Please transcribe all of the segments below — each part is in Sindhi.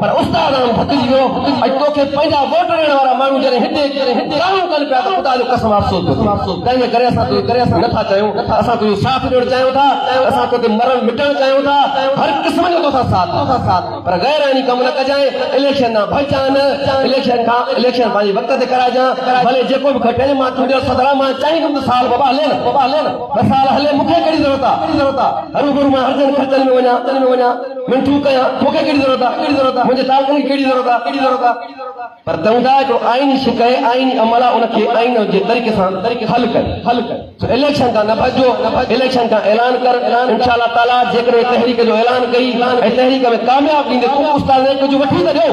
پر استاد آن ٿڪجي ويو اڄ توکي پنهنجا ووٽ ڏيڻ وارا ماڻهو جڏهن هتي ڳالهيون ڪن پيا ته خدا جو قسم افسوس پيو ٿئي تنهنجي ڪري اسان توکي نه ٿا چاهيون اسان تنهنجو ساٿ ڏيڻ چاهيون ٿا اسان توتي مرڻ مٽڻ چاهيون ٿا هر قسم جو توسان ساٿ پر غير آئيني ڪم نه ڪجانء اليڪشن ڏانهن ڀڄجانء نه اليڪشن کان اليڪشن پنهنجي وقت تي ڪرائجان ڀلي جيڪو به کٽين مان چونڊيل صدر آهيان مان چاهيندم ته سال ٻه ٻه هلين ٻه ٻه هلين ٻه سال هلي مون کي ڪهڙي ضرورت آهي هروڀرو مان هرجن خرچن ۾ وڃان من ٺوڪ ڪيان، مون کي ڪهڙي ضرورت آهي، منهنجي تعلقن کي ڪهڙي ضرورت آهي، پر تنهن لاء هڪڙو آئيني شڪ ۽ آئيني عمل آهي، ان کي آئين جي طريقي سان حل ڪر. سو اليڪشن کان نه ڀڄجو، اليڪشن کان اعلان ڪر، انشاء الله تعاليٰ جيڪڏهن هي تحريڪ جو اعلان ڪئي ۽ تحريڪ ۾ ڪامياب ٿيندي ته استاد نئين ڪجهه وٺي ته ڏيو.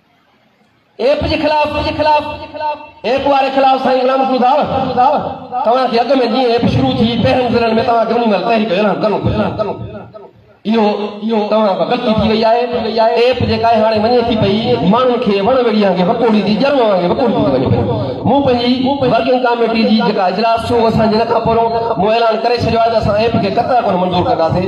ايپ جي خلاف ايپ واري خلاف سائين غلام محمود آهو توهان کي اڳ ۾ جيئن ايپ شروع ٿي پهرين ضلعن ۾ توهان کي انهي مهل تحريڪ اعلان ڪرڻو پوندو اهو توهان کان غلطي ٿي وئي آهي ايپ جيڪا هاڻي وڃي ٿي پئي ماڻهن کي وڻ ويڙهي وانگي وڪوڙي ٿي ڄرم وانگي وڪوڙي ٿي وڃي پئي مون پنهنجي ورڪنگ ڪاميٽي جي جيڪا اجلاس ٿيو اسان جي ان کان پهريون مون اعلان ڪري ڇڏيو آهي ته اسان ايپ کي قطعا ڪونه منظور ڪنداسين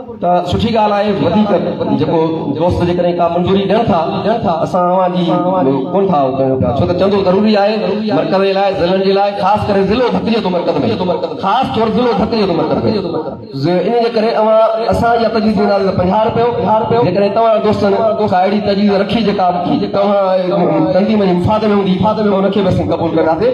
ته سٺي ڳالهه آهي وڌيڪ جيڪو دوست جيڪڏهن ڪا منظوري ڏين ٿا ته اسان اوهان جي ڪونه ٿا اهو ڪيون پيا ڇو ته چندو ضروري آهي مرڪز جي لاء ضلعن جي لاء خاص ڪري ضلعو ڀتيء جو مرڪز ۾ خاص طور ضلعو ڀتيء جو مرڪز ۾ انهي جي ڪري اوهان اسان جي تجويز ڏينداسين ته پنجاهه رپيو جيڪڏهن توهان دوستن ڪا اهڙي تجويز رکي جيڪا توهان جي تنظيم جي مفاد ۾ هوندي ته ان کي به اسين قبول ڪنداسين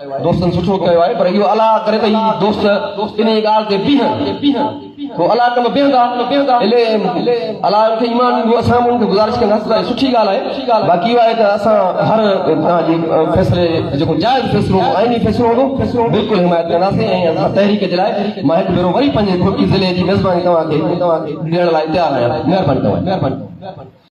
دوستن سٺو ڪيو آهي پر اهو الله ڪري ته هي دوست انهيء ڳالهه تي بيهن ٿو الله ڪم بيهندا الي الله ان کي ايمان ڏيندو اسان به ان کي گذارش ڪنداسين ته سٺي ڳالهه آهي باقي اهو آهي ته اسان هر طرح جي فيصلي جيڪو جائز فيصلو آئيني فيصلو هوندو بلڪل حمايت ڪنداسين ۽ اسان تحريڪ جي لاء مان هڪ ڀيرو وري پنهنجي ٺٽي ضلعي جي ميزباني توهان کي ڏيڻ لاء تيار آهيان مهرباني توهان جي